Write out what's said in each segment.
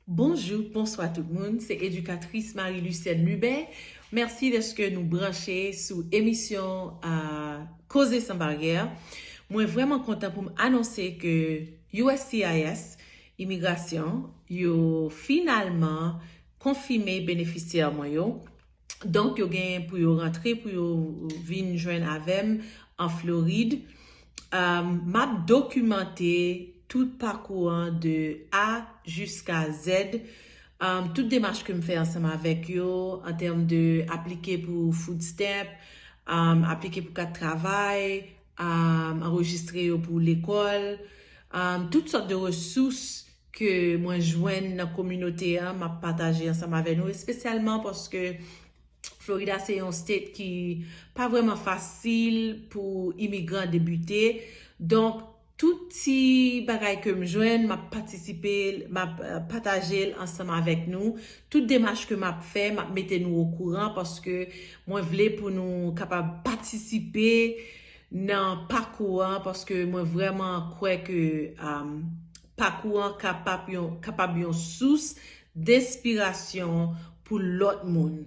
Bonjou, bonswa tout moun, se edikatris Marie Lucienne Lubin, mèsi dèske nou branche sou emisyon Koze San Baryè. Mwen vrèman kontan pou m anonse ke uscis, Imigrasyon, yo finalman konfime benefisyè mwen yo. Donk yo gen pou yo rantre pou yo vin jwenn avè m an Florid. M ap dokimante tout pakou an de A jiska Z. Tout demach ke m fè ansanm avèk yo an tèm de aplike pou food stamp, aplike pou kat travay, anrejistre yo pou lekòl, tout sòt de resous. ke mwen jwenn nan kominote a map pataje ansanm avè nou espesyalman paske Florida se yon state ki pa vreman fasil pou imigran debute donk tout ti bagay kem jwenn map patisipe map patajel ansanm avèk nou tout demach ke map fè map mete nou okouran paske mwen vle pou nou kapab patisipe nan pakou an paske mwen vreman kwè ke Pakou an kapab yon sous denspirasyon pou lòt moun.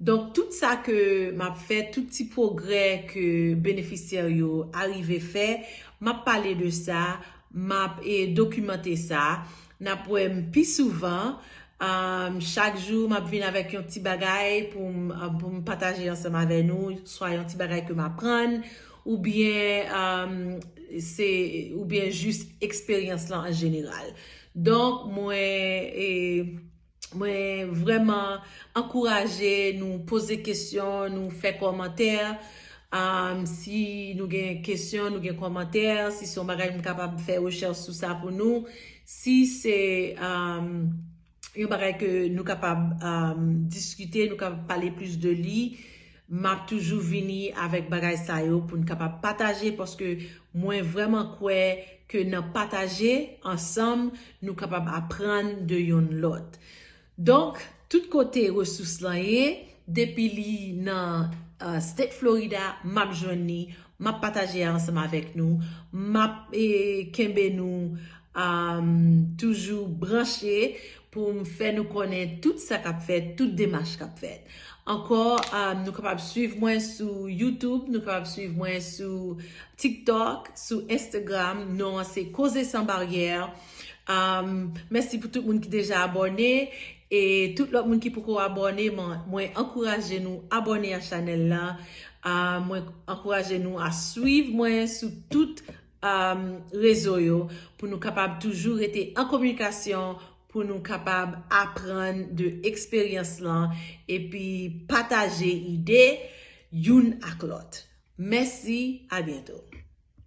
Donk, tout sa ke m ap fè, tout ti pwogrè ke benefisyè yo arive fè, m ap pale de sa, m ap dokimante sa. N ap wè m pi souvan. Chak jou, m ap vin avèk yon ti bagay pou m pataje ansanm avè nou, swa yon ti bagay ke m aprann, Ou byen se ou byen jis eksperyans lan an jeneral. Donk mwen mwen vreman ankouraje nou poze kesyon, nou fè komantè. Si nou gen kesyon, nou gen komantè, si son bagay m kapab fè rechèch sou sa pou nou. Si se. yon bagay ke nou kapab diskite, nou kapab pale plis de li, m ap toujou vini avèk bagay sa yo pou n kapab pataje paske mwen vrèman kwè ke nan pataje ansanm nou kapab aprann de yonn lòt. Donk, tout kote resous lan ye, depi li nan State Florida, m ap jwenn li, m ap pataje ansanm avèk nou, m ap kenbe nou. M toujou branche pou m fè nou konnen tout sa k ap fèt, tout demach k ap fèt. Ankò, nou kapab suiv mwen sou YouTube, nou kapab suiv mwen sou TikTok, sou Instagram. Non an se Causer sans barrière. Mèsi pou tout moun ki deja abòne. E tout lòt moun ki poko abòne, mwen ankouraje nou abòne a chanèl la. Mwen ankouraje nou a suiv mwen sou tout. rezo yo pou nou kapab toujou rete an kominikasyon pou nou kapab aprann de eksperyans lan epi pataje ide youn ak lòt mèsi abyento.